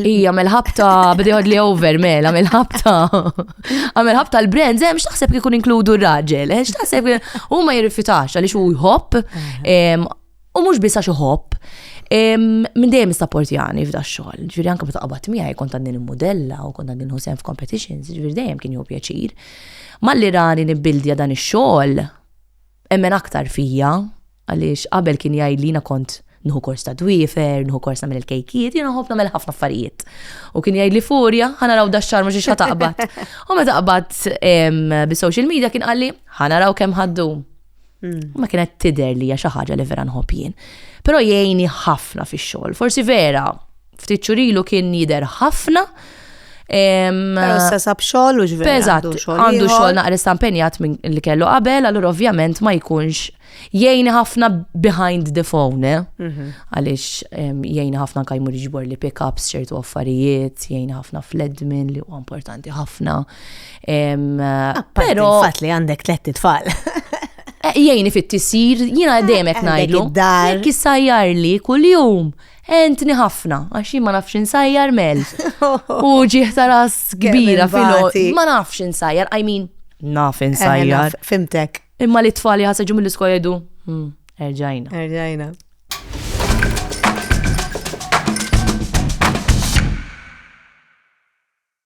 Ija, melħabta, bidi għod li over, mela, melħabta. Għamil ħabta l-brand, zem, xtaħseb li kun inkludu r-raġel, eh, xtaħseb li u ma jirrifitax għalix u jħob, u mux bisa xoħob. Minn dejjem jani f'da xogħol, ġifieri anke meta qabad miegħi kont għandin il-modella u kont għandin ħusem f'competitions, ġifieri dejjem kien jew pjaċir. Malli rani nibbildja dan ix-xogħol, emmen aktar fija, Għaliex qabel kien jgħidli jiena kont nieħu kors ta' dwiefer, nieħu kors nagħmel il-kejkijiet, jiena nħobb nagħmel ħafna affarijiet. U kien jgħidli furja, ħa naraw dax-xahar mhux ix taqbad. U meta taqbad bis-social media kien qalli, ħa naraw kemm ħaddum. Hmm. Ma kienet tidher li hija xi ħaġa li vera nħobb jien. Però jgħini ħafna fix-xogħol. Forsi vera, ftit xurilu kien jidher ħafna. Pero se sab xogħol u ġveri. Eżatt, għandu xogħol naqra stampenjat minn li kellu qabel, allura ovvjament ma jkunx Jgħini ħafna behind the phone, eh? Mhm. għalix jgħini ħafna kajmu ġbor li pick-ups ċertu affarijiet, jgħini ħafna fl-admin li huwa importanti ħafna. Pero. Fat li għandek tlet tfal. Eh, jgħini fit-tisir, jina eh, demet najdu. Dar. Kissajjar li kull-jum. Entni ħafna, għaxi ma nafx insajjar mel. U ġieħta ras kbira fil Ma nafx insajjar, I mean, naf insajjar. Fimtek. Imma li t-tfal jħasġu mill-iskola jgħidu, hmm, erġajna. Erġajna.